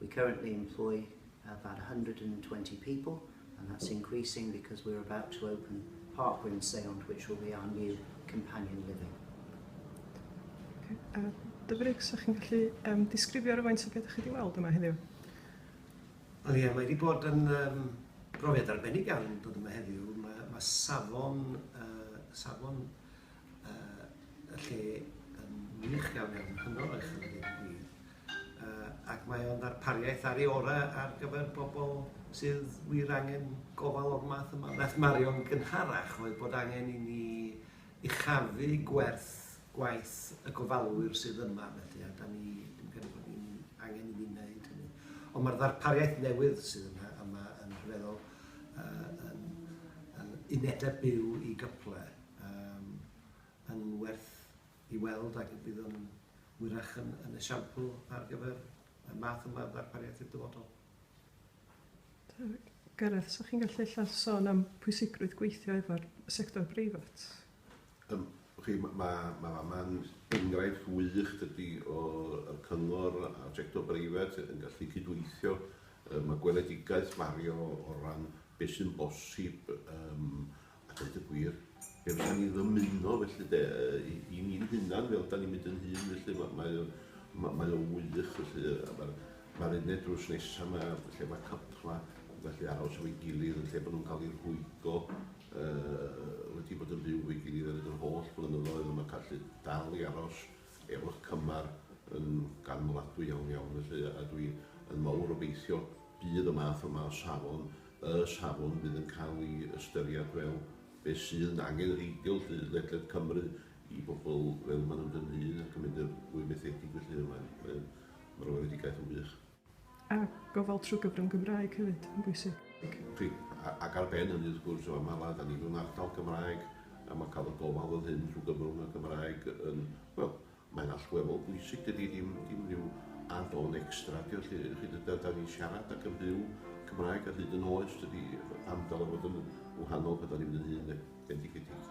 We currently employ about 120 people and that's increasing because we're about to open Park Wyn Seiont which will be our new companion living. Okay. Uh, Dyfrig, sa chi'n gallu um, disgrifio rhywfaint o beth ydych chi wedi weld yma heddiw? Wel ie, mae wedi bod yn um, brofiad arbennig iawn dod yma heddiw. Mae, mae safon, uh, safon Yy y lle yn wych iawn iawn, hynod o uchel a deud y gwir, yy ac mae o'n ddarpariaeth ar ei orau ar gyfer bobl sydd wir angen gofal o'r math yma. Beth Marion gynharach oedd bod angen i ni uchafu gwerth gwaith y gofalwyr sydd yma felly a da ni dwi'n credu bod ni'n angen i ni wneud hynny. Ond mae'r ddarpariaeth newydd sydd yna yma yn rhyfeddol, yy yn yn unedau byw i gyplau. Yym, yn werth i weld ac fydd yn wyrach yn yn esiampl ar gyfer y math yma o ddarpariaeth i'r dyfodol. Gareth, 'sa chi'n gallu ella sôn am pwysigrwydd gweithio efo'r sector breifat? Yym, chi, ma' ma' ma' fama'n enghraifft wych, dydi, o y cyngor a'r sector breifat yn gallu cydweithio. Yy, ma' gweledigaeth Mario o ran beth sy'n bosib, yym, A deud y gwir, be fydda ni ddymuno felly de, i, i ni'n hunan, fel da ni'n mynd yn hun, felly mae, mae, o, mae, mae o wych, felly, a mae'r mae uned drws nesaf yma, lle mae cypla yn gallu aros efo'i gilydd, yn lle bod nhw'n cael eu rhwygo, uh, wedi bod yn byw efo'i gilydd ar yr holl blynyddoedd, a mae'n gallu dal i aros efo'r cymar yn ganmladwy iawn iawn, felly, a dwi yn mawr obeithio bydd y math yma o safon y safon fydd yn cael ei ystyried fel beth sy'n angenrheidiol 'lly ledled Cymru i bobl fel maen nhw'n dynnu un ac yn mynd i'r fwy methedig felly mae'n mae'n mae'r weledigaeth yn wych. A gofal trwy gyfrwng Gymraeg hefyd yn bwysig. Fi, ac ar ben hynny wrth gwrs, mae mae da ni mewn ardal Gymraeg a mae cael y gofal fel hyn trwy gyfrwng y Gymraeg yn, wel, Mae'n allweddol bwysig, dydi ddim dim rhyw add-on extra ydi o 'lly, y'ch chi, dydi, 'dan ni'n siarad ac yn byw Cymraeg ar hyd yn oes, dydi, pam dyle fod yn wahanol pan 'dan ni'n mynd yn hŷn 'de, bendigedig.